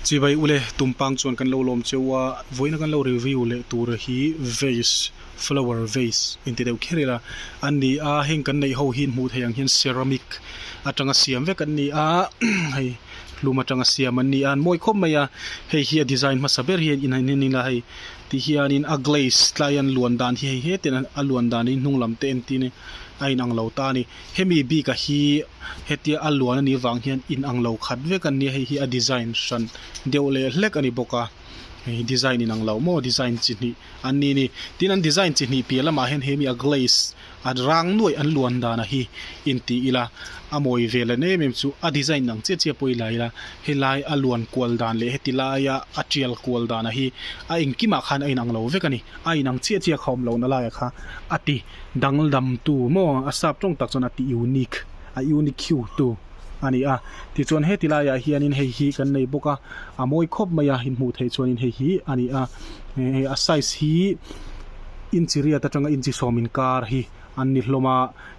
Chivai ule tumpang chuan kan lo lawm cheu a, vawiina kan lo review leh tur hi vase, flower vase inti deuh kher ila an ni a, heng kan neih ho hi'n hmuh theih ang hian ceramic atanga siam vek an ni a, hei hlum atanga siam an ni a, an mawi khawp mai a, hei hi a design hmasa ber hi in han en ila hei ti hianin a glaze tlaian luan dan hi hei hetian a luan dan hi hnunglam te entin a inang lo ta a ni. Hemi bika hi hetia a luan a nih vang hian in ang lo khat vek an nia, hei hi a design hran deuh leh hlek a ni bawk a, hei design in ang lo maw design chi hnih an ni ni. Tin an design chi hnih piah lamah hian hemi a glaze a rang nuaih an luan dan a hi in tih ila, a mawi ve len em em chu a design in ang chiah chiah pawh i la ila, helai a luan kual dan leh heti laia a tial kual dan a hi a engkimah khan a in ang lo vek a ni, a in ang chiah chiah kha awm lo nalaiah kha a ti. Danglamtu maw a sap tawng tak chuan a ti unique a unique hiu tu a ni a. Tichuan he ti laiah hianin hei hi kan nei bawk a, a mawi khawp mai a inhmuh theih chuanin hei hi a ni a. Hei a size hi inchi riat atanga inchi sawm inkar hi an ni hlawm a,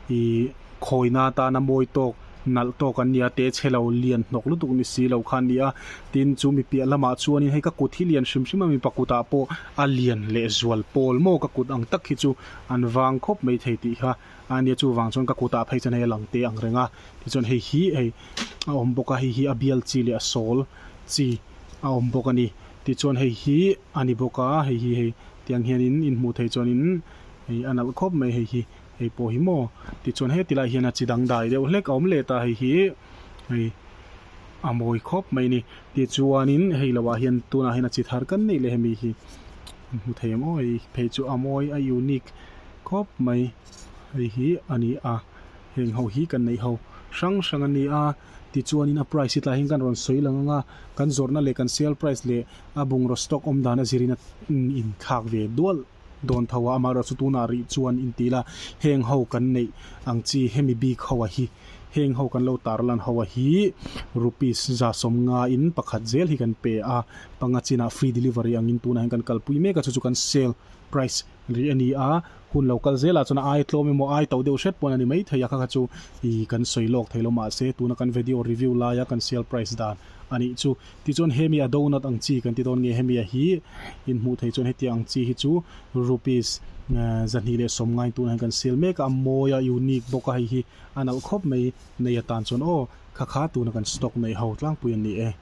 ih khawina atan a mawi tawk. nalh tawk an nia te che lo lian hnawk lutuk ni si lo kha an ni a, tin chu mi piah lamah chuanin hei ka kut hi lian hrim hrim a mipa kutah pawh a lian leh zual pawl maw ka kut ang tak hi chu an vang khawp mai thei tih kha a nia chuvang chuan ka kutah phei chuan hei a lang te ang reng a tichuan hei hi hei a awm bawk a hei hi a bial chi leh a sawl chi a awm bawk a ni tichuan hei hi a ni bawk a hei hi hei tiang hianin in hmuh theih chuanin hei a nalh khawp mai hei hi. hei pawh hi maw? Tichuan heti lai hian a chi dangdai deuh hlek a awm let a, hei hi hei a mawi khawp mai a ni. Tichuanin hei lo ah hian tunah hian a chi thar kan neih leh hemi hi kan hmu thei ang awi. Phei chu a mawi a unique khawp mai hei hi a ni a, heng ho hi kan neih ho hrang hrang a ni a. Tichuanin a price hi tlai hian kan rawn sawi lang ang a, kan zawrhna leh kan sale price leh a bungraw stock awm dan a zir in a inthlak ve dualh. Dawn tho a amaherawh chu tunah rih chuan in ti la, heng ho kan neih ang chi, hemi bik hoa hi, heng ho kan lo tar lan hoa hi rupees za sawm nga in pakhat zel hi kan pe a, panga chinah free delivery angin tunah hian kan kalpui mek a, chu chu kan sale price rih a ni a, hun lo kal zelah chuan a ai tlawm emaw ai to deuh hret pawh a ni maithei a, kha kha chu ih kan sawi lawk theilo mahse tuna kan video review laia kan sale price dan anih chu. Tichuan hemi a donut ang chi kan ti dawn nge hemi a hi in hmuh theih chuan hetiang ang chi hi chu rupees zahnih leh sawm ngai tuna hian kan sell mek a a mawi a unique bawk a hei hi a nalh khawp mai nei atan chuan aw khakha tuna kan stock neih ho tlangpui an ni e.